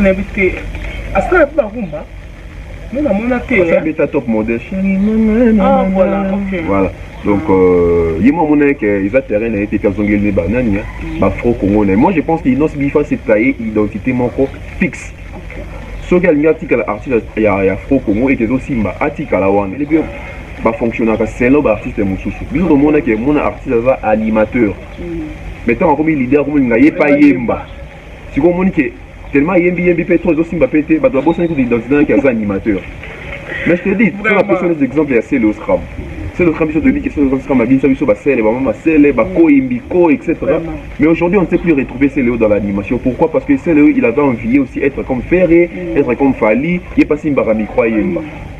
nayebi te asala mpe barumba nde namona te abeta top model ah, voilà okay. voilà donc euh, ye mwa amonaki ke eza terrain na ye te mpe azongeli ne banani mm. bafro congo na ye moi je pense que inos bifa se taye identité moko fixe soki alingi atikala artiste ya, ya fro congo ete ezosimba atikala wana ebi bafonctionnaka selon baartiste mosusu biso tomonaki mona artiste aza animateur mm. mais ntango akomi leader akomi linga ye pa yemba sikoyo omoni ke tellement ayembi yembi pe to ezosimba pe te bato babosani kutu identité naki aza animateur mais je te dis tona pesa les exemples ya sele oscram sele oscram biso toyebi ke sele oscram abimisa biso basele bamama masele bakoi mbiko etc mais aujourd'hui on ne sait plus retrouver sele dans l'animation pourquoi parce que sele il avait envie aussi être comme ferre être comme fali ye pasi mbaka micro ayemba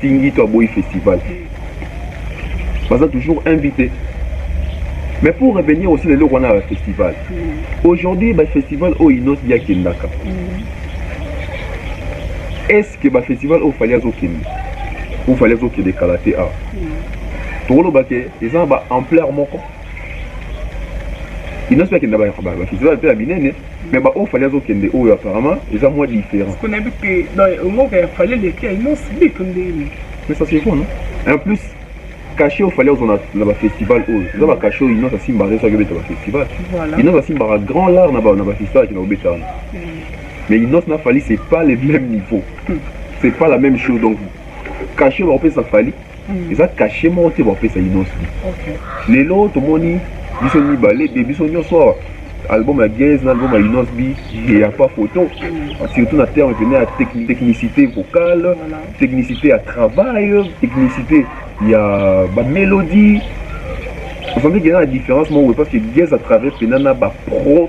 Tingito aboyi festival. Baza toujours invité. Mais pour revenir aussi le loko na festival. Mm. Aujourd'hui ba festival o inos ya kendaka. Mm. Est-ce que ba festival o fallait azo kende? Ou fallait azo kende kala te a? Mm. Tokolo ba ke eza ba ampleur moko. Inos ya kendaka ba festival pe ya binene. Mais ba oyo fallait azo kende oyo apparemment eza moins différent. Kuna bi que ba ngo ka fallait les cas non sibi que ndeni. Mais ça c'est bon non? En plus cachet oyo fallait ozona na ba festival oyo eza ba cachet oyo inosa simba azo saki obeta ba festival. Voilà. Inosa simba ka grand lar na ba na ba festival ki na obeta wana. Mm. Mais inosa na fallait c'est pas le même niveau. Mm. C'est pas la même chose donc cachet ba opesa fallait eza kashe moko te bapesa inosbi lelo tomoni biso mibale de biso nyonso awa album ya gaz na album ya inosbi ya pa photo mm. surtout na terme pene ya technicité vocale technicité ya travail technicité ya bamélodie ozalaki kena na différence moko parce que gaz à travers pena na bapro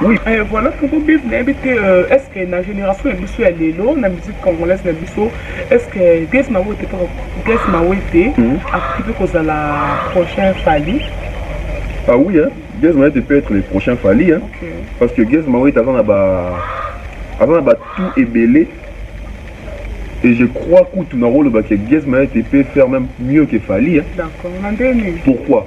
Oui, eh, voilà pourquoi Bible n'a habité euh, est-ce que la génération est biso ya lelo na musique congolaise na biso est-ce que Grace Mawete paka Grace Mawete Mhm. akoki pe kozala prochain Fally Ah oui, hein? Gez Mawete peut être le prochain Fally. Hein? Ok. Parce que Gez Mawete avant là-bas, avant là-bas tout est belé. Et je crois que tout le rôle que Gez Mawete peut faire même mieux que Fally. Hein? D'accord, na ndenge nini Pourquoi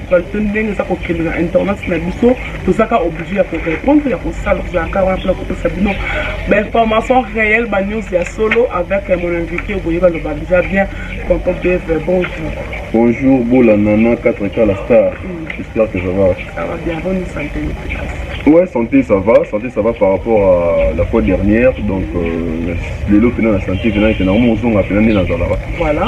Balutani ndenge eza kokende na internet na biso tozaka oblige ya korepondre ya kosala tozalaka wana mpona kopesa bino bainformation réelle banews ya solo avec mon invité oboye baloba deja bien tonton beve bonjour bonjour bola nana 4 k la star mm. j'espère que ça va ça va bien bonne santé Ouais, santé ça va, santé ça va par rapport à la fois dernière, donc euh, les lots pénal la santé pénal, c'est normalement on zonga pénal dans la Voilà.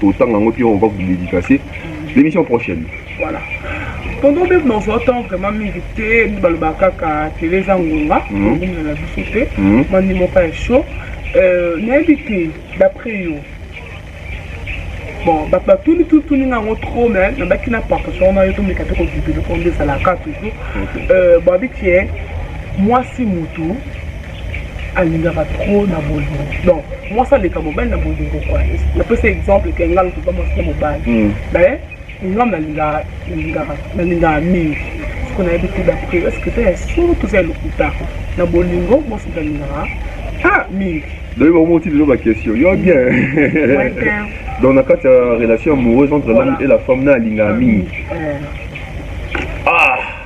totanga yango puis on va vous dédicacer l'émission prochaine voilà tonton bebe na ozwa temps vraiment mingi te nde balobaka kaka tele eza ngonga okomela na biso te mandi moko ya chaud nayebi te d'après yo bon bato batuni tutuni nga yango trop mais nabaki na partation wana yo tomeka te kodibeloko nde ezalaka toujours babi tie mwasi motu alingaka trop na bolingo donc mwasi aleka mobali na bolingo koi napesa exemple ke ngai lokoba mwasi na mobali hmm. mais ngai nalingaka mingi siko nayebi te dapre eske eza ya solo toza ya lokuta na bolingo mwasi nalingaka ah mingi donc bamoti lelo baquestion yo bien donc na kati ya relation amoureuse entre l'homme et la femme na alingaka mingi ah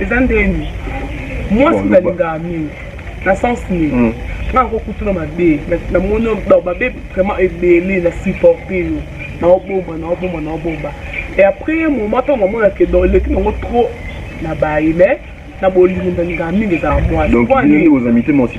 eza ndeni mwasi nalingaka mingi na sens nini hmm. ngai akokutuna mabe namoni mabe vraiment ebele na supporte yo naobomba naobomba naobomba et après ye moment ntango amona ke don eleki nango trop na baye mais na bolingo ndalingaka mingi ezala mwasi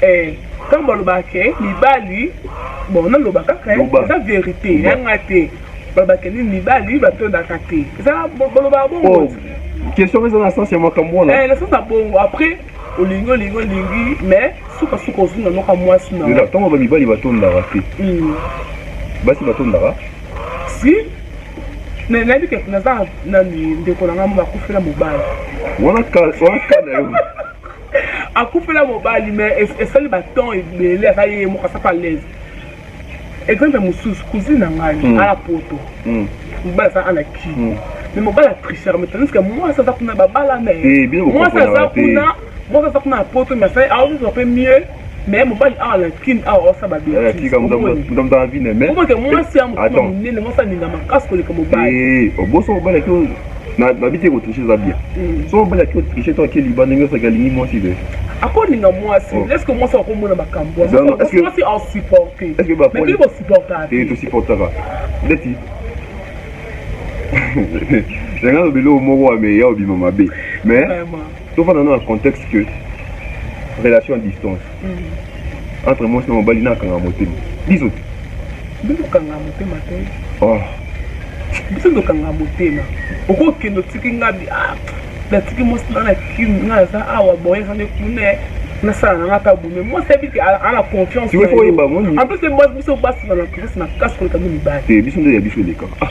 Eh, ntango balobaka ke mibali bon naloba kaka eh, Loba. eza verite Loba. yanga te balobaka ke nini mibali batondaka te eza bo- balobaka bongo Oh, question eza na sens ya makambo wana Eh, na sasa bongo après olingi olingi olingi mais sukasuka ozwi na noka mwasi na Lela, ntango ba mibali batondaka te Mm. basi batondaka si na- nayebi ke naza nani ndeko na ngai moko akufela mobali wana ka- wana ka na yo akufela mobali me esali batemp ebele aza ye moko asaka alaise exemple mosusu cousine na ngai mm. ala poto mm. mobali aza ana ki mm. me mobali atrichaka me tandis ke mwasi aza kuna babalana eh, mwasi aza kuna mwasi aza kuna na poto me asali aozoa mpe mieux mais mobali awa na kin awa osala babetiseomoke mwasi ya mokoma monene mwasi alinga makasi koleka mobali oboso mobali ake nabiti ekotriche eza bien so mobali ake otriche to ake liba ndenge osaki alingi mwasi te akolinga mwasi eske mwasi akomona makambo mwasi asupporte mekili bosupportaka te tosupportaka ndeti yanga lobelo moko ya meya obima mabe mais tofanda na contexte que relation à distance mm. entre mwasi na mobali nakanga motema biso te bizokanga motema te oh. biso tokanga motema okokende otiki nga ah, natiki mwasi na na kini nga naza awa boye kande kuna nasala nanga ata bume mwasi abiki ana confiance en plus mwasi biso basala na confiance makasi koleka mpe mibali biso nde ya biso elekaka ah,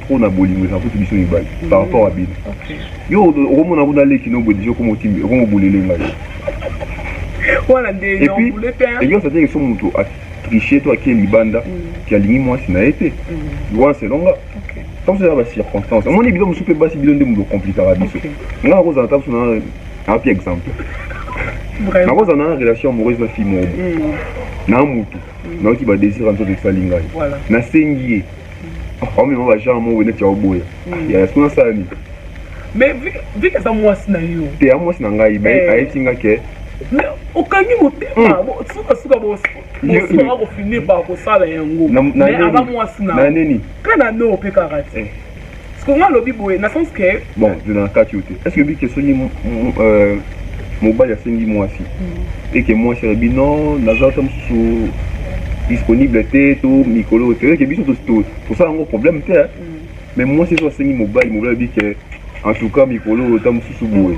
pona bolingo eza kutu biso mibali par rapport à bino yo okomona kuna leki no boye deja okomotimi okomobulele ngai wana nde nobule te eyosa te so moto atriche to akie libanda ke alingi mwasi na ye te wana selonga ntango eza bacirconstance omoni bino mosusu mpe basi bino nde moto komplikaka biso ngai nakozala ntango so na api exemple nakozala na relation amoureuse na fille moko na motu nayoki badésir ya nzoto esali ngai nasengi ye omema ba genre moko neti ya oboya hmm. ya yasina asala nini mais vike aza mwasi na yo te ya mwasi na ngai eh. ayeti nga ke mais okangi motema hmm. sukasuka bosoka kofinir bakosala yango mais aza mwasi na nini mpe na no mpe kaka te eh. Siko nga lobi boye na sens que bon je na kati yote. Est-ce que bi que soki euh mobali asengi mwasi mm. et que mwasi alobi non naza ta mosusu disponible te to mikolo te eke biso tosala yango problème te mais mwasi ezo asengi mobali mobali alobi ke en tout cas mikolo oyo ta mosusu boye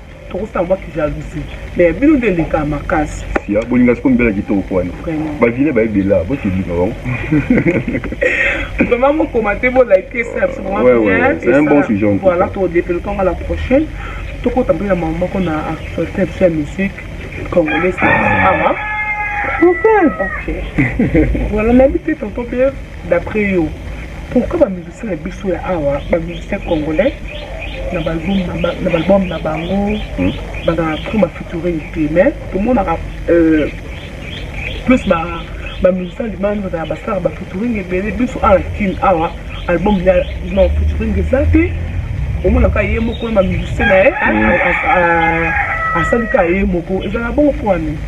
Tokosi na baki jalousie. Mais bino nde eleka makasi. Siya bolinga siko mbela kitoko kwani. Ba vile ba ebela bo tibika bango. Vraiment mo commenter bo liker ça c'est vraiment bien. Ouais ouais, c'est un bon sujet. Voilà, to développer encore la prochaine. Toko tambi na maman ko na actualité de la musique congolaise. Ah, hein? Okay. voilà, mais peut-être on peut D'après yo pourquoi ba musiciens na biso ya awa ba musiciens congolais na ba album na bango bazalaka trop ba featuring te mais tomonaka euh, plus ba ba musiciens libanda bazalaka basalaka ba featuring ebele biso awa na kin awa album ya non featuring eza te omonaka ye moko na ba musiciens na ye asali kaka ye moko ezalaka bongo mpo wana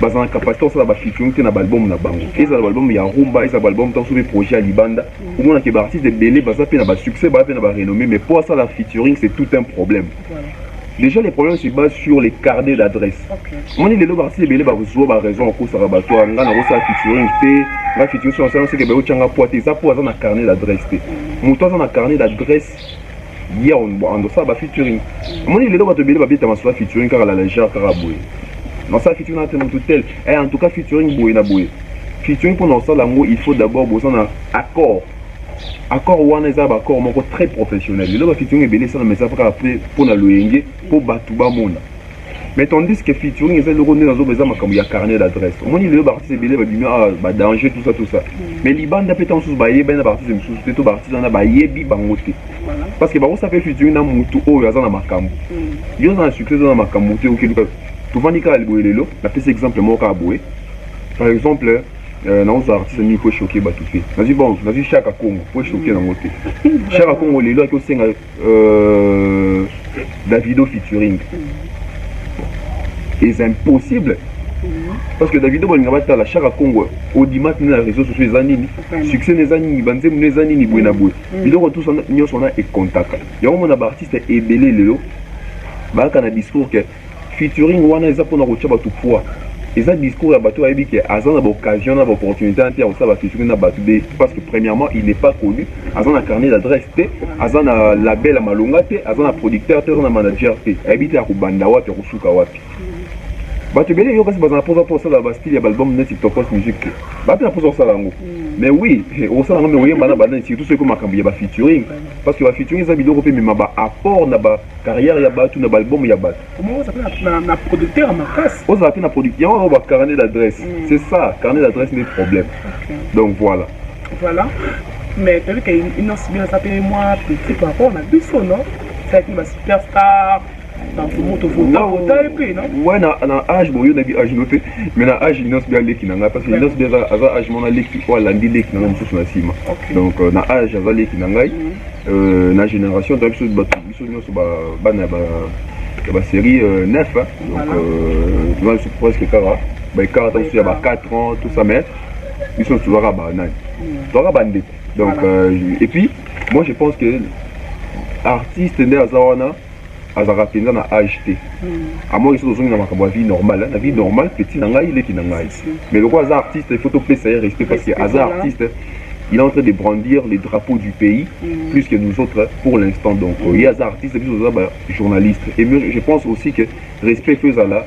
baza na capacité kosala ba featuring te na baalbum na bango ezala baalbum ya rumba ezala baalbum ntango soki projet ya libanda omona ke baartiste ebele baza mpe na basuccès baza mpe na barenommé mais mpo asala featuring c'est tout un problème déjà les problèmes se basent sur les carnets d'adresse omoni lelo baartiste ebele bazwa baraison bakosaka bato ya ngai nakosala featuring te nga featuring so nasala seke bayotyanga poa te eza mpo aza na carnet d'adresse te moto aza na carnet d'adresse Hier on on ça ba featuring. Moi il est là quand tu belle ba beta ma soit featuring car la légère car boy. Non ça featuring na tellement tout tel. Eh en tout cas featuring boy na boy. Featuring pour nous ça lango il faut d'abord besoin d'un accord. Accord wana eza ba accord moko très professionnel. Le ba featuring ebele ça na mais ça pas après pour na loyenge pour batu ba mona. mais tandis que featuring eza eloko nde na zoba eza makambo ya carnet d'adresse omoni lelo baartiste ebele babimi awa badanger tout ça tout ça mm. mais libanda mpe ntango mosusu bayebani na baartiste mosusu te to baartiste wana bayebi bango te parce que bakosala mpe featuring na motu oyo aza na makambo mm. yo oza na succès oza na makambo te okeluka tovandi kaka liboye lelo napesi exemple moko kaka boye par exemple euh, naoza artiste mingi po echoke bato te nazwi bon nazwi shaka congo po echoke nango te shaka congo lelo ake osenga Euh, Davido featuring. C'est impossible. parce que davido balinga batala shaka congo odimati na réseau sociaux eza nini succès na eza nini banzembo na eza nini boye na boye mm. biloko tout nyonso wana ekontaka yango mona baartiste ebele lelo bayaka na discours ke Featuring wana eza pona kotia batu poids. Eza discours ya batu bayebi ke aza na ba occasion na ba opportunite wana te ya kosala ba featuring na batu de parce que premièrement il n'est pas connu, aza na carnet d'adresse te, aza na label ya malonga te, aza na producteur te, aza na manager te. Ayebi te akobanda wapi, akosuka wapi. Batu ebele yo kasi baza na posa po sala ba style ya album neti Tokos Music te. Ba pe na posa kosala yango. Mais oui, osala yango mais oyemba na banani surtout soki ko makambo ya ba featuring parce que ba featuring eza biloko pe mema ba apport na ba carrière ya batu na balbum ya batu na producteur makasi ozala pe na producteur yango yango ba carnet d'adresse mm. c'est ça carnet d'adresse nde problème donc voilà voilà mais toyebi ke inos bien aza pe mwa petit par rapport na biso non ezalaki ba superstar ouais na na age boyo na bi age no te mais na age inos bi aleki na ngai parce que inos bi aza age mona leki oyo alandi leki na ngai mosusu na nsima donc euh, na age aza leki na ngai mm. Euh, na génération na biso bato biso nyonso bana ya basérie 9 euh, donc euh, toza biso presque kaka baekart ta biso ya ba 4 ans tout ça mais biso tozwaka banani tozwaka bandeko donc et puis moi je pense que artiste nde aza wana azalaka mpenza na age te hmm. amoni soki ozongi na makambo ya vie normale na vie normale petit na ngai leki na ngai mais lokola aza artiste il faut topesa ye respect parce que aza artiste il est en train de brandir les drapeaux du pays mm. plus que nous autres pour l'instant donc mm. ye aza artiste biso toza bajournaliste et je pense aussi que respect fo ezala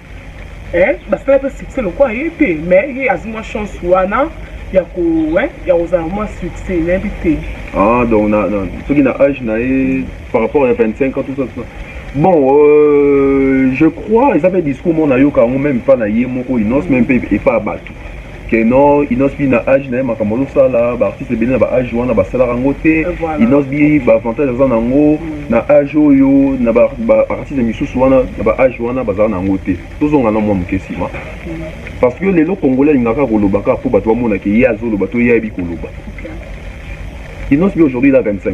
eh basala pe succès lokola ye te mais ye azwi mwa chance wana ya ko eh, ya kozala mwa succès nayebi te ah donc na, na, soki na age na ye par rapport ya 25 ans tout ça, tout ça. bon euh, je crois eza mpe discours moko nayoka yango meme mpa na ye moko inonce meme mpe epa ya bato que non inosbi na age na ye makambo azosala baartiste ebele na baage wana basalaka yango te inosbi baavantage aza na yango mm. na age oyo na baartiste misusu wana na baage wana bazala na yango te tozonga na mwa moke nsima mm. parce que lelo congolais alingaka koloba kaka mpo bato bamonake ye azoloba to ye ayebi koloba inosbi aujourd'hui la 25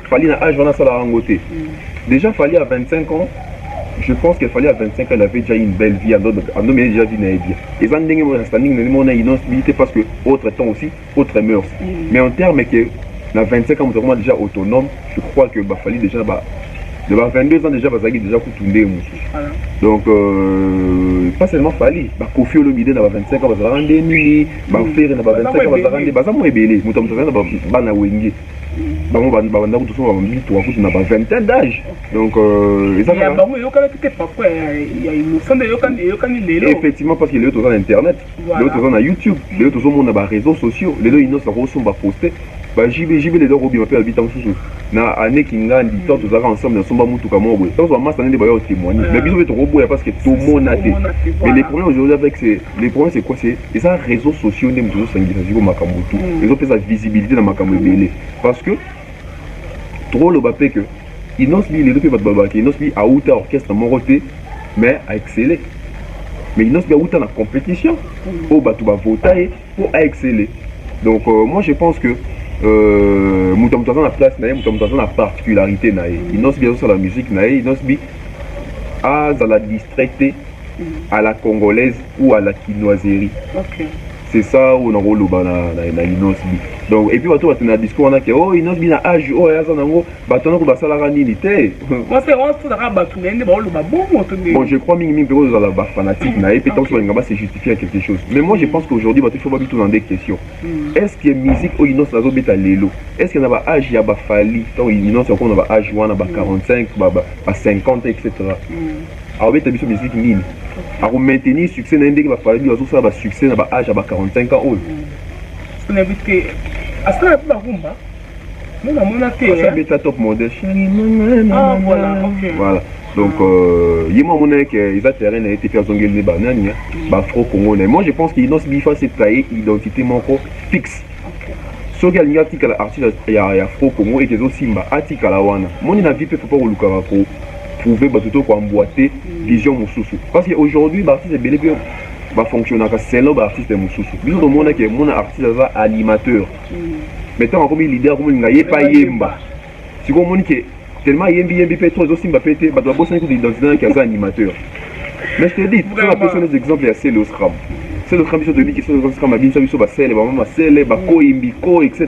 Fally na âge wana sala yango te. Déjà Fally à 25 ans, je pense que Fally à 25 ans, il avait déjà une belle vie, ando ando mais déjà vie na bien. Et ça ndenge mo standing na mo na innoncibilité parce que autre temps aussi, autre mœurs. Mm. Mais en termes que na 25 ans, nous déjà autonome, je crois que bah Fally déjà bah de ba 22 ans déjà bazaki déjà kutu ndenge mosusu voilà. donc euh, pas seulement fali bakofi olomide na ba 25 ans bazalaka nde nini bafere na ba 25 ans bazalaka nde baza mwa ebele moto moto azali na bana wenge bango babanda kutu soka bamituka kutu na ba vingtaine d'age donc euh, eza ya bango eyokanaki te papa ya innocent nde eyokani lelo effectivement parce que lelo toza na internet lelo toza na youtube lelo tozomona ba réseaux sociaux lelo innocent akosomba poste bajbjb lelo akobima mpe abita mosusu na ane kingandi mm. ntango tozalaka ensemble nasomba motuka moko boye ntango bamasa nde bayo témoigne mais biso mpe tokoboya parce que tomona te mais le problème aujourd'hui avec Le problème c'est quoi c'est eza réseaux sociaux nde moto ezosangisa siko makambo tout mm. ezopesa visibilité na makambo ebele parce que tokoloba mpe que inosbi lelo mpe bato balobaka inosbi awuta orchestre moko te mais aexcele mais inosbi awuta na compétition mm. oyo bato bavota ye mpo aexcele donc euh, moi je pense que euh, moto ya moto aza na place na ye moto ya moto aza na particularité na ye mm. inosbi azosala musique na ye inosbi azala distrait te à la congolaise ou à la kinoiserie okay. c'est ça oyo nakoloba na, na, na inosbi donc epuis bato batenda discours wana ke o oh, inosbi na age oyo oh, aza nango bato wana ko basalaka nini te bon je crois mingi mingi mpe kozala bafanatique na ye mpe ntango balinga base justifier quelque chose mais moi je pense qu'aujourd'hui bato fo babituna nde question hmm. est ce que musique oyo inos azobeta lelo est ce que na baage ya bafali ntango inos yakoma na baage wana ba 45 ba 50 etc akobeta biso miziki nini akomaintenir succès na ye ndenge bafaladi bazosala basuccès na baage ya ba 45 ans oyo asala mpe barumba me namona teabeta top modesh ah, voilà donc euh, ye mwa amonaki ke eza terrain na ye te mpe azongeli ne banani bafro congo na ye moi je pense que inos bifa se taye identité moko fixe soki alingi atikala artiste ya fro congo ete ezosimba atikala wana moni na vie mpe papa kolukaka ko prouver bato to ko emboiter vision mosusu parce que aujourd'hui ba artistes ebele mpe ba fonctionnaka selon ba artistes mosusu biso tomona ke mona artiste aza animateur mais ntango akomi leader akomolinga ye mpe ayemba sikoyo omoni ke tellement ayembi yembi mpe to ezosimba mpe te bato babosani kutu identité naki aza animateur mais je te dis so napesi nos exemple ya sele oscram sele oscram biso toyebi ke sele oscram abinisa biso basele bamama sele bakoyi mbiko etc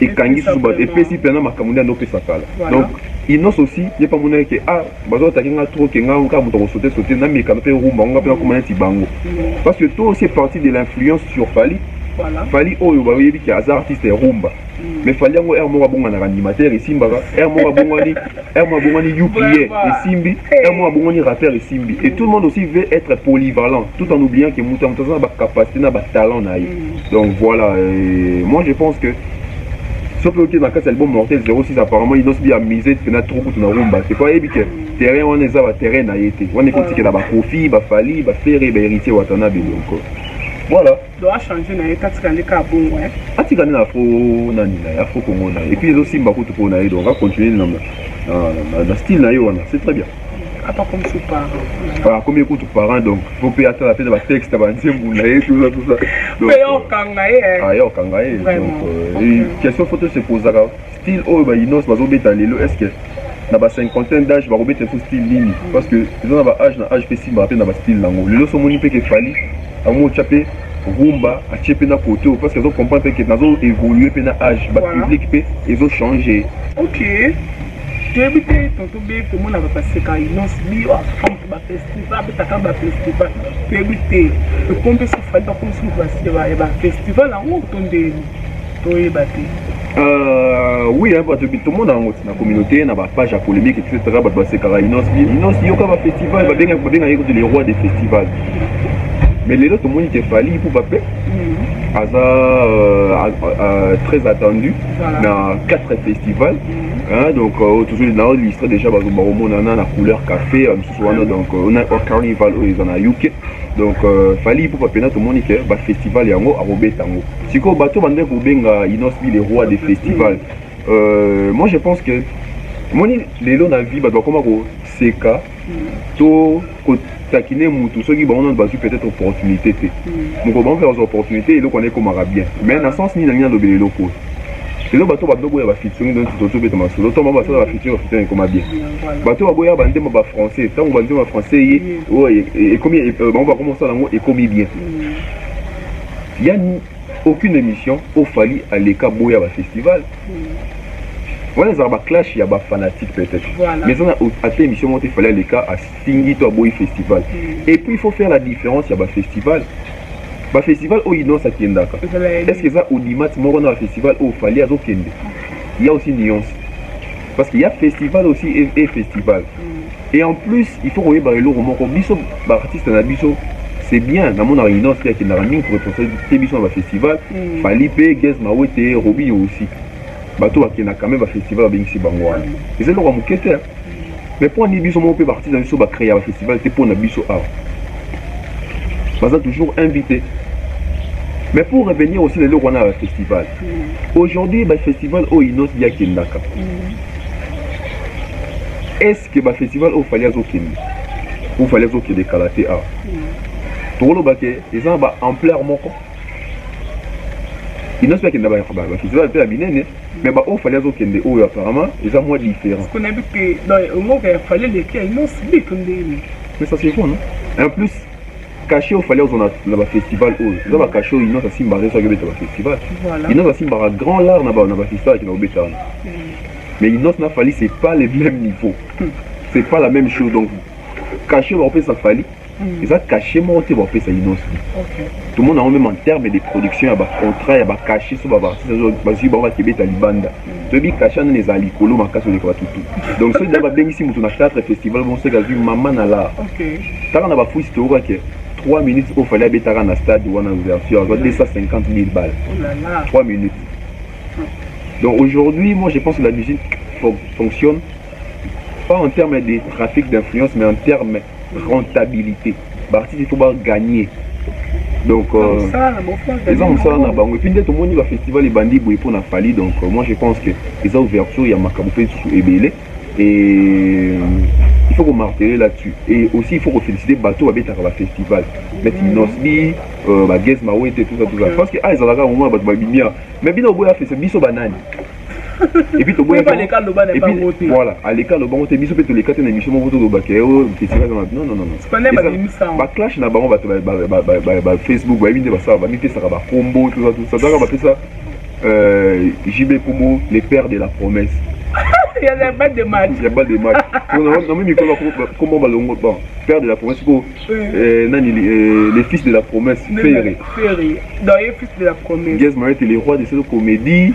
ekangi susu bato epesi mpena makambo nde andopesa kala donc inos aussi ye mpe amonaki ke a ah, bazotaki nga trop ke nga kaka moto akosote sote namekana mpe rumba ngo nga mpe nakoma neti bango mm. parce que to aussi est parti de l'influence sur fali fali oyo bayebi ke aza artiste ya rumba mm. mais fali yango r moko abonganaka animateur esimbaka r moko abongani r moko abongani upie esimbi r moko abongani rappeur esimbi et tout le monde aussi veut être polyvalent tout en oubliant ke moto ya moto aza na bacapacité na batalent na ye mm. Donc voilà, euh, moi je pense que soki oke na kati ya album mortel 06 apparemment inos bi amise mpena trop kutu na rumba te po ayebi ke terrain wana eza baterrain na ye te wana ekotikela bakofi bafali bafere baheritier watanabe donc voilà atika nde na afro nani na ye afro congo na ye epuis ezosimba kutu mpo na ye donc acontinue na style na ye wana c'est très bien apa comme ses parents ah comme écoute parents donc faut payer ça la peine ba texte ba nzembu na ye tout ça tout ça donc payer okanga ye ah ya okanga ye donc euh, question photo se poser là style oyo ba inos bazo beta lelo est-ce que na ba cinquantaine d'âge bakobeta so style nini parce que eza na ba âge na âge mpe simba mpe na ba style nango lelo so omoni mpe kefali yango otya mpe rumba atie mpe na kote oyo parce que azo comprendre mpe ke nazo évolue mpe na âge ba public mpe ezo change ok toyebi te tonto be komonaka baseka inos bio afrique bafestival abetaka bafestival toyebi te ekombe sofali bakomi susu baseba ya bafestival yango to ndeni toyeba te Euh, oui bato tomona yango na communauté na bapage ya polémique etc bato basekaka inos inos yoka bafestival babengaki kutu le roi des festivals mais lelo tomoni te fali mpo bape mm. aza euh, euh, très attendu na quatre festivals Hein, donc euh, tozoli na listre déjà bakomonana na couleur café euh, mosusu wana donc euh, on a un carnival oyo eza na uk donc euh, fali ipupa mpena tomoni ke bafestival yango akobeta yango sikoyo bato bandaki kobenga inosbi le roi des festivals euh, moi je pense que moni lelo na vie bato bakoma koseka to ko takine mutu soki bango nanu bazwi peut-être opportunité te hmm. mokolo bango mpe bazwa opportunité eloko wana ekomaka bien mais na sens nini nangi nalobela eloko oyo lelo bato badogo ya bafiture nde tozobeta masolo to bango basala bafiture bafiture ekoma bien bato baboya bandembo ba français ntango bandembo ba français ye oyo ekomi bango bakoma kosala yango ekomi bien yani Aucune emission oyo Fally aleka aboya ba festival. Wana ezalaka ba clash ya ba fanatiques peut-être. Voilà. Mais eza na au- ata emission moko te Fally aleka afingi to aboyi festival. Et puis il faut faire la différence ya ba festival. Ba festival oyo Innoss akendaka. Ezala ya Est-ce que eza audimat moko na ba festival oyo Fally azokende? Il y a aussi nuance. parce qu'il y a festival aussi et, et festival mm. et en plus il faut koyeba eloko moko biso baartiste na biso c'est bien namonaka inonce te akendaka mingi korepresente te biso na bafestival mm. fali mpe gez mawete robinio aussi bato bakendaka quand même bafestival babengisi bango wana eza eloko ya moke te mais mpo ani biso moko mpe baartiste na biso bacrea bafestival te mpo na biso awa baza toujours invité mais pour revenir aussi na eloko wana ya bafestival mm. aujourd'hui bafestival oyo inos di akendaka mm. est ce que bafestival oyo fali azokende ou fali azokende kala te awa mm. tokoloba ke eza na baampleur moko inos mpe akenda bafestival mpe ya minene Mais ba oyo fallait azo kende oyo apparemment eza moins différent. Kuna bi que ba ngo ka fallait les kia non sibi que ndeni. Mais ça c'est bon non? En plus cachet oyo fallait ozona na ba festival oyo eza ba cachet oyo inosa simba azo soki obeta ba festival. Voilà. Inosa simba ka grand lar na ba na ba festival kina obeta wana. Mm. Mais inosa na fallait c'est pas le même niveau. Mm. C'est pas la même chose donc cachet ba opesa fallait Mm. eza cachet moko te bapesa inonso tomona yango meme en terme de production ya bacontrat ya bacachet so baartiste bazwi bango bakebeta libanda mm. toyebi cachet nani ezala likolo makasi oleka batutu donc soki da babengisi moto na théâtre festival bongo soki azwi mama na lar kaka na bafuisi toyoka ke 3 minutes oyo fali abetaka na stade wana ouverture azwa 250 000 balles 3 minutes donc aujourd'hui moi je pense que la musique fonctionne pas en termes de trafic d'influence mais en termes rentabilité baartiste fo baganye donc eza mosala na bango epuis nde tomoni bafestival ebandi boye mpo na fali donc euh, moi je pense que eza ouverture ya makambo mpe lisusu ebele et il faut komartele là-dessus et aussi il faut kofélicite bato babetaka bafestival neti mm. nosbi euh, bagez mawete tout ça tout ça parce que a ah, ezalaka yango mona bato babimia mais bino oboya festival biso banani epuis toboyaki voilà aleka aloba yango te biso mpe toleka te na émission moko toloba ke o festival na non non non baclash na bango bato bafacebook bayebi nde basala bamipesaka bakombo tozaka bapesa euh, jb kombo le père de la promesse ya bas de match ya bas de match namoni mikolo kombo balongo bon père de la promesse ko euh, nani euh, le fils de la promesse ferre ferre dans le fils de la promesse guez marie le roi de cette comédie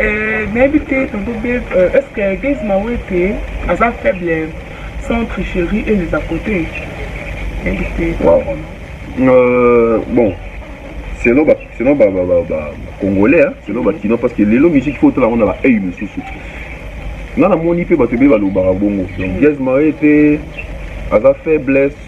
Euh, nayebi te tonto be euh, est ce que gaze mawete aza faible sans tricherie et les à côté nayebi te wow. euh, bon selon ba selon ba ba ba, ba congolais hein, selon ba kino parce que lelo musique faut tala ngona ba hey mususu nga namoni mpe bato ebele balobaka bongo donc mm. gaz marie te aza faiblesse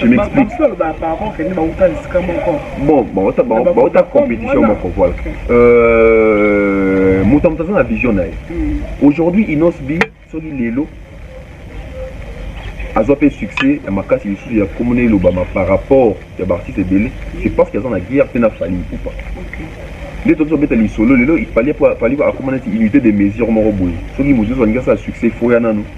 Je m'explique. Bon, bauta bauta compétition moko voilà. Euh, moto moto aza na vision na ye. Hmm. Aujourd'hui Inos B soki lelo azwa mpe succès ya makasi lisusu ya komona elobama par rapport ya baartiste ebele c'est parce que aza na guerre mpe na fali ipupa nde toki tobeta lisolo lelo fali akomona neti unité de mesure moko boye soki mosusu alingi asala succès foya nano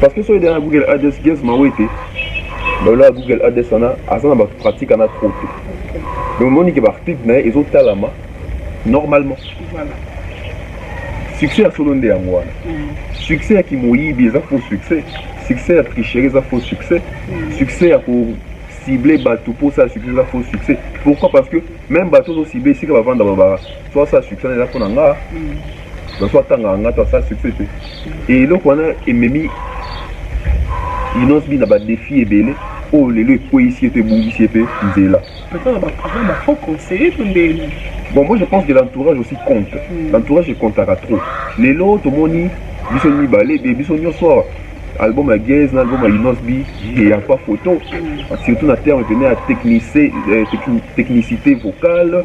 parce que soki na google adresse ges mawete balola google adresse wana aza na bapratique ana trop te donc omoni ke baarticle na ye ezotalama normalement succès ya solo nde yango wana mm. succès ya kimoyibi eza faux succès succès ya tricherie eza faux succès mm. succès ya ko cible bato mpo osala succès eza faux succès pourquoi parce que même bato ozocible esika bavanda babaka so asala succès eza mpo na nga na so atangaka nga to asala succès te e eloko wana ememi inonce bi na badefi ebele oyo lelo ekweisi ye to ebungisi ye mpe nzela bon moi je pense que l'entourage aussi compte mm. l'entourage ekontaka trop lelo tomoni biso mibale be biso nyonso awa album ya gaze na album ya inos bi eya mpa photo surtout na terme pene ya technicité vocale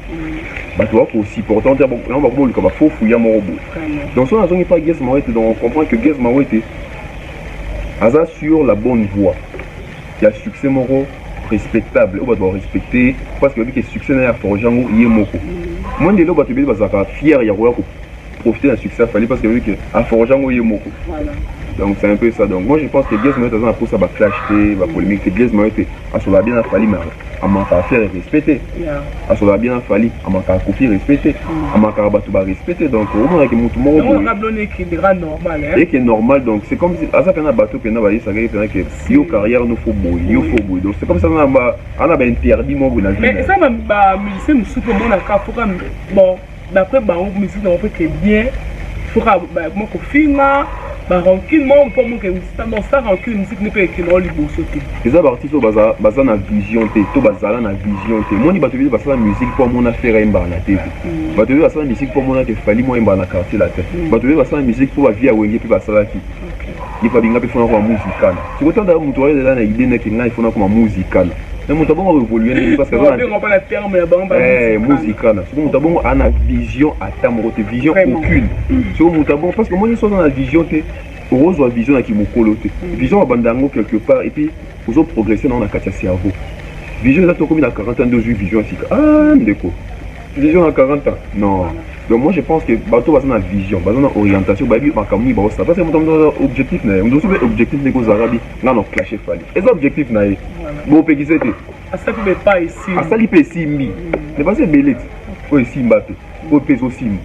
bato ba ko supportant te yango bako boluka ba faux fouya moko boye donc soki nazongi pa Gies Mawete donc on comprend que Gies Mawete aza sur la bonne voie ya succès moko respectable oyo bato barespecte parce que bayebi ke succès na ye aforge yango ye moko mwa ndele oyo bato ebele bazalaka fiere ya koya profiter na succès ya Fally parce que vu que a forger ngo ye moko donc c'est un peu ça donc moi je pense que Blaise Mayotte aza na posa ba clash te ba polémique te Blaise Mayotte asola bien na Fally mais amaka affaire respect te asola bien na Fally amaka kofi respect te mm. amaka bato ba respect te donc omona ke moto moko boye et que normal donc c'est comme aza pena bato pena ba yesa ke pena ke yo carrière no faut boy yo faut boy donc c'est comme ça na ba ana ba interdit moko na vie mais ça ba musicien musuko mona ka foka bon D'après bango musique na bango mpe ke bien soka bakoma kofinga ba rancune moko mpo moke mositama sa rancune musique nde mpe ekende o liboso te eza baartiste oyo baza, baza na vision te to bazala na vision te moni bato ebele basala musique mpo amona fere ayembaka na tv mm. bato ebele basala musique mpo amona ke fali mo ayembaka na quartier latin mm. bato ebele basala musique mpo bavie ya wenge mpe basalaki ye fabinga mpe fona koma musical siko tanda moto ayelela na idee neke ngai fona koma musical na moto abongo aevolue ndenge parce que musical siko moto abongo ana vision ata moko te vision aucune siko moto abongo parce que omoni soki aza na vision te okozwa vision na kimokolo te mm. vision babanda yango quelque part epuis ozo progresse nango na kati ya cerveau vision eza tokomi na 40 ans nde ozwi vision ya sika a ah, ndeko Vision na 40 ans non donc moi je pense que bato baza na vision baza na orientation bayebi makambo nini baosala parce que moto moto aza objectif na ye moto mosusu mpe objectif ndeko ozalaka bi ngai na clashe fali eza objectif na ye bopekise te asali mpe esimbi mais baza ebele te oyo esimba te oyo mpe ezosimba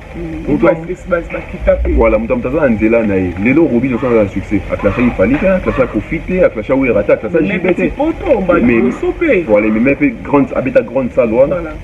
voilà moto moto aza na nzela na ye lelo robi nyonso aza na succès aklacha ifali te aklacha kofi te aklacha wera te aklacha jibe te voilà ememe mpe grande abeta grande salle wana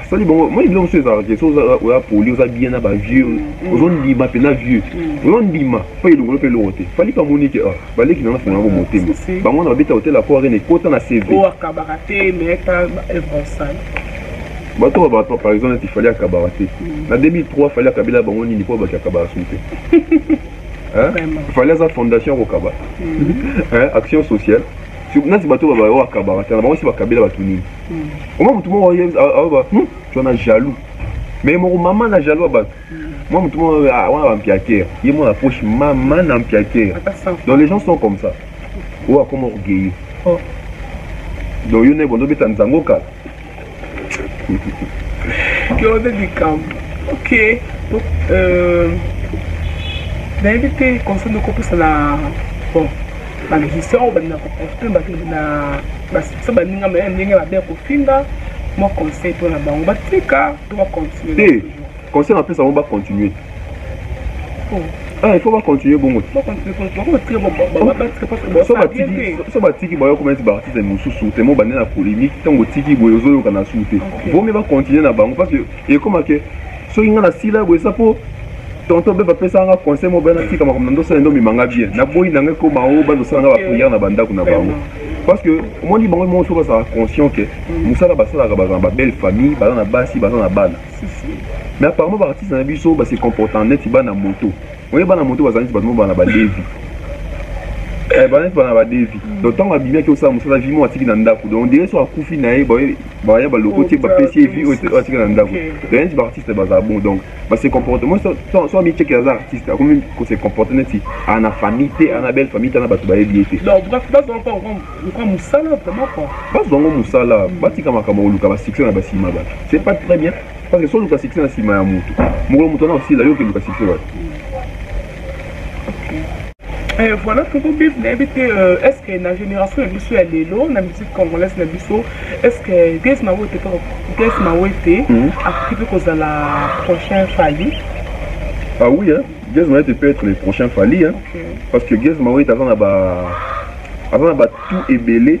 asali bango moi biloko mosusu ezalaka te soki oya poli oza bien na bavieux mm. ozondima mpenza vieux mm. ozondima mpo elongolo mpe elongo te fali mpe amoni ke ah, baleki nanga fonga yango motema bango wana babeta hotel ya koarene ekota na cv bato babato par exemple neti fali akabaka te mm. na 2003 fali akabela bango nini mpo baki akabaka su te fali aza fondation ya kokaba action sociale neti bato babayo akabaka te na bango si bakabela bato nini omwa motu moko aoba hmm, twana jaloux me moko mama na jaloux ya bato mwa motu moko ah, wana bampiakere ye mwana poche mama na mpiakere donc les gens sont comme ça oyo akoma orgueilleux oh. donc yo nde bondo beta nzango kala yo nde likambo ok euh, nayebi te conseil ndokopesa na bon ba musicien oyo balinga koprofite na basisa baninga maye ndenge mabe ya kofinga mwa conseil mpo na bango batika to bacontinue te conseil napesa bango bacontinue il faut bacontinue bongo so batiki bayo koma neti baartiste mosusu temo bande na polémique ntango otiki boye ozoyoka na su te vomi bacontinue na bango parce que ekomake soki nga na sila boye eza po tonton beba apesaka nga conseil moko bana tika makambo na ndosala ndo omema nga bien naboyi na ngai koma o bandosala nga bapriere na bandako na bango parce que omoni bango moko soki bazalaka conscient ke mm. mosala basalaka bazala na babelle famille baza na basi baza na bana mais apparemment baartiste na biso base comporta neti bana moto Oye bana moto bazali neti bato moko bana badevi eh, bana neti bana badevi mm. donc ntango abimi ake osala mosala vi moko atiki na ndako donc ondire so akufi na ye baya baloko te bapesi ye vi oyo atika na ndako donc neti baartiste bazala bon donc base comporte moi so amicheke aza artiste akomi kose comporte neti ana famille te ana belle famille te ana bato bayebi ye te bazwa yango mosala batika makambo koluka basuccès na basima bato c'est pas très bien Parce que si oluka succès na sima ya mutu, mokolo mutu wana osila yo keluka succès wapi? Euh, voilà pour vous bif nayebi te euh, est ce que na génération ya biso ya lelo na musique congolaise na biso est ce que grace mawete grace mawete Mhm. akoki mpe kozala prochain fali Ah oui, hein? Gaz Mawete peut être le prochain Fali, hein? parce que Gaz Mawete aza na ba aza na ba tout ebele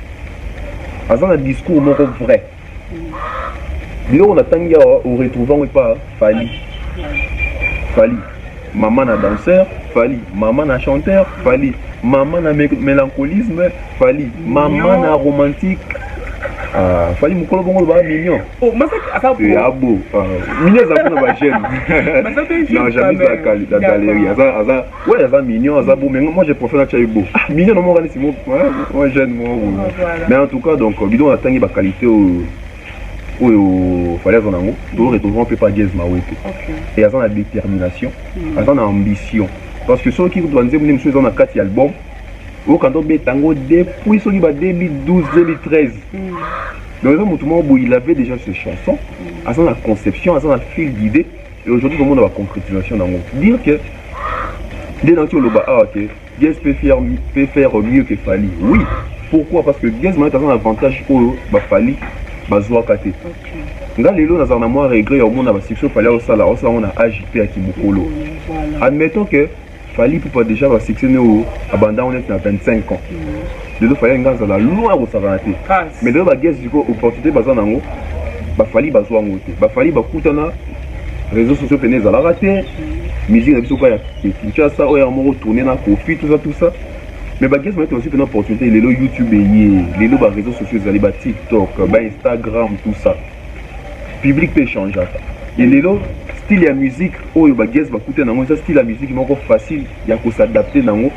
aza na discours moko vrai biloko natangi awa oretrouve yango epa fali fali mama na danseur fali mama na chanteur fali mama na mélancolisme fali mama na romantique Ah, fali mokolo bongo olobaka mignon oh, abo ah, mignon aza mpona bajeune non jamais azalaka na galerie aza Ouais, aza mignon, aza beau, mais moi je préfère Nacha Ebo. Ah, mignon, non, moi, c'est mon, moi, j'aime, moi, Mais en tout cas, donc, euh, bidon, on a tangi, bah, qualité, euh, oyo fallait azala yango toretrouve mpe pa diese mawete e aza na détermination hmm. aza na ambition parce que soki kutu banzembo nde mosusu eza na kati ya album okanda obeta yango depuis soki ba 2012 2013 donc eza motu moko boye il avait déjà ses chansons hmm. aza na conception aza na fil d'idée Et aujourd'hui komona ba concrétisation nango dire que nde nauti oloba awa ah, ke Gez peut faire, peut faire mieux que Fally oui pourquoi parce que Gez mayete aza na avantage oyo ba Fally bazwaka te nga lelo nazala na mwa regret ya omona basuccès Fally aosala aosala yango na age mpe ya kimokolo admettons que Fally Ipupa dejà ba succès ne oyo abanda ngo neti na 25 ans lelo Fally alingi azala loin ya kosakana te mais lelo ba guest sikoyo opportunité baza na yango ba Fally bazwa yango te ba Fally bakutana réseaux sociaux pene ezalaka te musique na biso kaka ya Kinshasa oyo yango moko tourner na Koffi tout ça tout ça mais ba guest bayete bazwi pena opportunité lelo YouTube eye lelo ba réseaux sociaux ezali ba TikTok ba Instagram tout ça public mpe echangeaka e lelo style ya musique oyo bagues bakute nango eza style ya musique moko facile ya kosadapte nango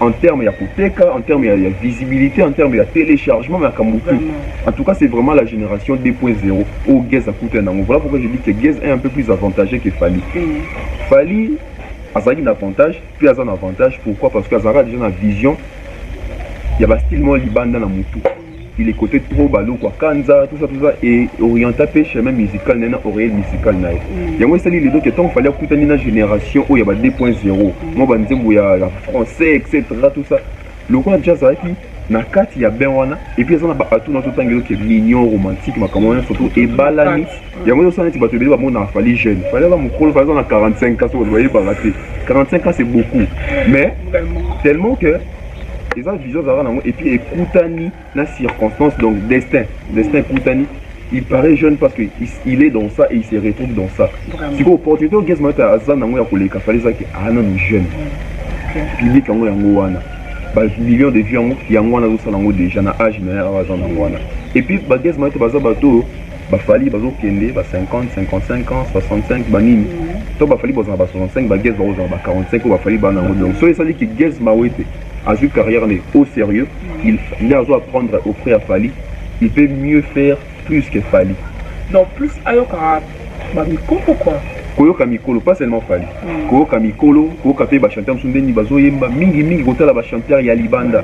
en terme ya koteka en terme ya, ya visibilité en terme ya téléchargement makambo tout en tout cas c'est vraiment la génération 2.0 oyo gues akuta nango voilà pourquoi je dis que gues est un peu plus avantagé que fali mm. fali azalaki na avantage mpe aza na avantage pourquoi parce que azalaka déjà na vision ya bastyle moko libanda na motu Il ecotait trop Balukwa, Kanza, tout ça, tout ça, et orienta pe chemin musical na ye na oreille musicale na ye. Mm. Yango esali lelo ke ntango fali akutani na génération oyo ya ba 2.0 mwa ba nzembo ya, ya français etc tout ça lokola jazz azalaki na kati ya bain wana epuis aza na baatu na totanga eloke mignon romantique makambo wana surtout ebalani yango ezosala neti bato ebele bamonaka fali jeune fali aza mokolo fali aza na 45 ans soki bayebaka te 45 ans c'est beaucoup mais tellement que Eza vision azalaka nango et puis ekutani na circonstance donc destin destin ekutani il paraît jeune parce que il est dans ça et il se retrouve dans ça sikoyo opportunité oyo gesmat aza nango ya koleka fale ezaki aa ah, nanu jeune public yango yango wana bamillion de vie yango yango wana azosala yango déjà na age na ye awa aza nango wana epuis bagesmat baza bato oyo Ba Fally bazo kende ba 50, 55 ans, 65 ba nini? To ba Fally bozana ba 65 ba Guess bakozana ba 45 oyo ba Fally bana yango donc soki esali ki Guess Mawete azwi carrière ne au sérieux il nde azo apprendre auprès ya Fally il peut mieux faire plus que Fally. Donc plus ayoka ba mikolo quoi. koyoka mikolo pas seulement fali koyoka mikolo koyoka mpe bachanteur mosusu ndeni bazoyemba mingi mingi kotala bachanteur ya libanda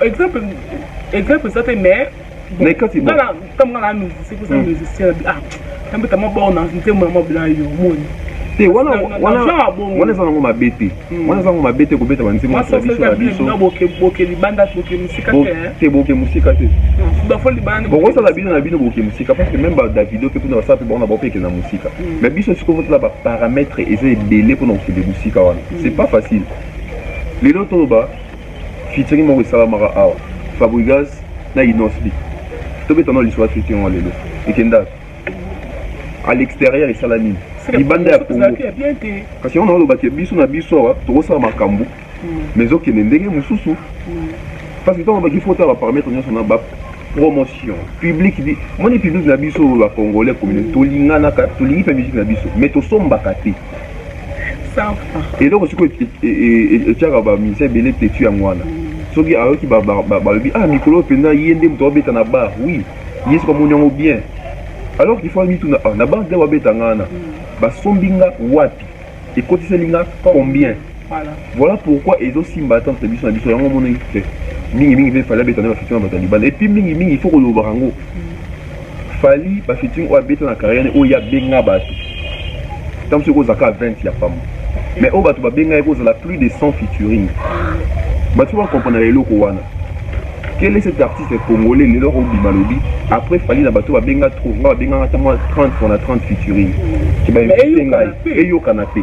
exemple exemple eza te mais mais kati bon kala comme kala musicien ko sa musicien ah tambe tamo bon na nzembo na mobila yo moni te wana wana wana eza nango mabe te hmm. wana eza nango mabe te kobeta banzembo na tradition na biso boke libanda boke mosika te te boke mosika te hmm. bokosala bino na bino boke mosika parce que même badavido mpe mpona basala mpe bango na bango mpe ekenda mosika hmm. mais biso sikoyo totala baparametre eza ebele mpona kokende mosika wana c'est pas facile lelo toloba Featuring moko esalamaka awa Fabrigaz na Innos B. Tobeta na liswa featuring wa lelo. Ekenda à l'extérieur esala nini? Libanda ya Congo. Kasi yango naoloba ke biso na biso awa tokosala makambo hmm. mais ezokende ndenge mosusu hmm. parce que ntango baki fota baparamètre nyonso na bap promotion public moni public na biso oyo bacongolais communauté tolinganaka tolingi mpe musique na biso mais tosombaka te eloko sikoyo etiaka bamusicien ebele tetu yango wana soki ayoki balobi ah mikolo oyo mpenza ye nde moto abeta na bar oui ye soki amoni yango bien alors qu'il faut amituna ah, na bar nde babeta nga wana basombi nga wapi ekotiseli nga combien Voilà pourquoi ezo simba ata entre biso na biso yango moni te mingi mingi pe fali abeta na bafiti na bato ya libanda epuis mingi mingi il faut kolobaka yango fali bafiti oyo abeta na carrière ne oyo abenga bato ntango soki kozalaka 20 ya pamba mais oyo bato babengaki kozala plus de 100 featuring bato soki bakomprana eloko wana quel est cet artiste congolais lelo obima lobi après fali na bato babenga trop nga babengaka ntango 30 pona 30 featuring eyokana te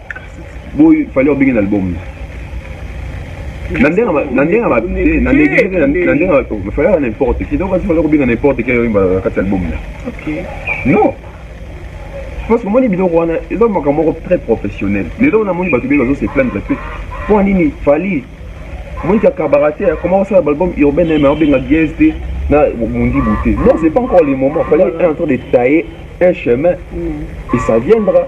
boy fallait obenge na album na ndenge na ndenge ba na ndenge na ndenge ba to fallait n'importe qui donc fallait obenge n'importe qui oyimba na kati album na OK non parce que omoni biloko wana eza makambo moko très professionnel lelo namoni bato bee bazo se plaindre mpe mpo nini fali omoni ka cabaratier akoma kosala balbum urbain me aobenga gies te na mundi bute non c'est pas encore le moment fallait un temps de tailler un chemin mm. et ça viendra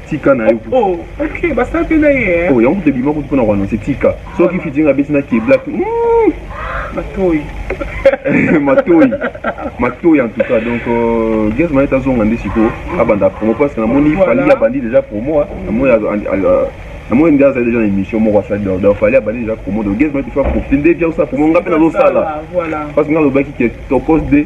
tika na yo oh, ok basape na ye eh. oh, yango tebima kutu mpona koanonse tika soki fitinga abeti na keblak hmm. matoi matoi matoi en tout cas donc euh, gaz manete azonga nde sikoyo abanda promo parce que namoni fali abandi déjà promo namoni namoni nde azali deja na émission moko asali donc fali abandi deja promo donc gaz manete fa profite nde bia osala promo nga mpe nazosala parce que nga alobaki ke tokos de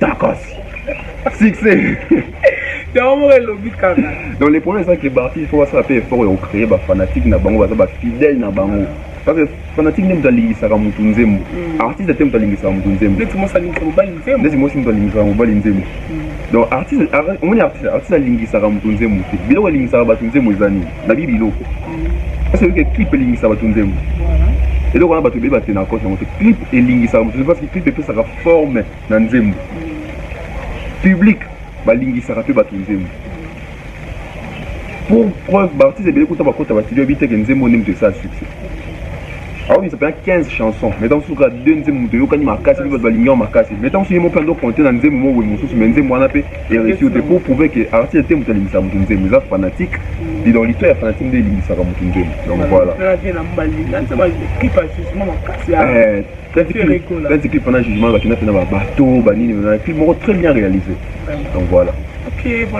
Tacos. Succès. yango moko elobi kaka donc le problème ezaki baartiste fo basala mpe effort ya kocreye bafanatique na bango baza bafidèle na bango parce que fanatique nde moto alingisaka motu nzembo mm. artiste te moto alingisaka motu nzembo ndeti mosi alingisaka mobali nzembo mm. donc artiste omoni artiste artiste alingisaka motu nzembo te biloko elingisaka bato nzembo eza nini nabi biloko parce que clip elingisa bato nzembo eloko wana bato ebeba te na kote yango te clip elingisaka moto parce que clip epesaka forme na nzembo public balingisaka mpe bato nzembo pour preuve baartiste ebele kuta bakota bastudio yebi teke nzembo nde moto esala succès aobimisa mpena 15 chanson mais ntango suka de nzembo moto eyokani makasi mpe bato balingi yango makasi mais ntango suki mo mpe ando compte na nzembo mo boye mosusu mais nzembo wana mpe Heritier ote pour prouver que artiste te moto alimbisa moto nzembo eza fanatique et donc l'histoire ya fanatique nde elimbisaka moto nzembo donc voilà pente clip wana jugement bakenda mpe na babateau banini na clip moko très bien réalisé donc voilà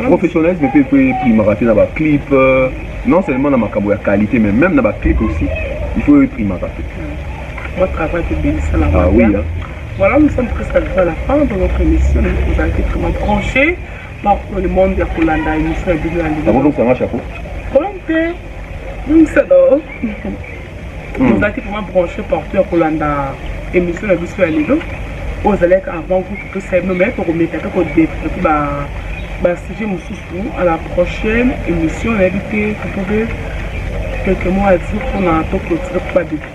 professionnalisme mpe mpe primaka te na baclip euh, non seulement na makambo ya qualité mais même na baclip aussi il faut eprimaka te ah oui hein. Voilà, nous sommes presque arrivés à la fin de notre émission. Vous avez été vraiment branchés par tout le monde ya kolanda émission ya bino ya lelo. Nakolokisa nga chapeau. Problème te, longisa do. Vous avez été vraiment branchés par tout ya kolanda émission ya biso ya lelo. Oyo ezalaki avant vous topesa bino mais tokomeka te kodevelope ba basujet mosusu à la prochaine émission nayebi te totobe quelques mois à dire mpona tokotire mpo badevelope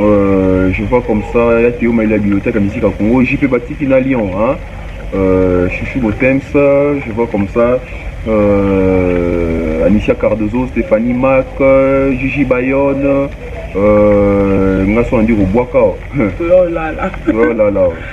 Euh, je vois comme ça ya Théo Maïla bibliothèque ya musique ya Congo JP Batiki na Lyon hein euh, Chouchou Botems je vois comme ça euh, Anicia Cardozo Stéphanie Mac Gigi Bayonne euh, nga so andi kobwaka oh là là oh là là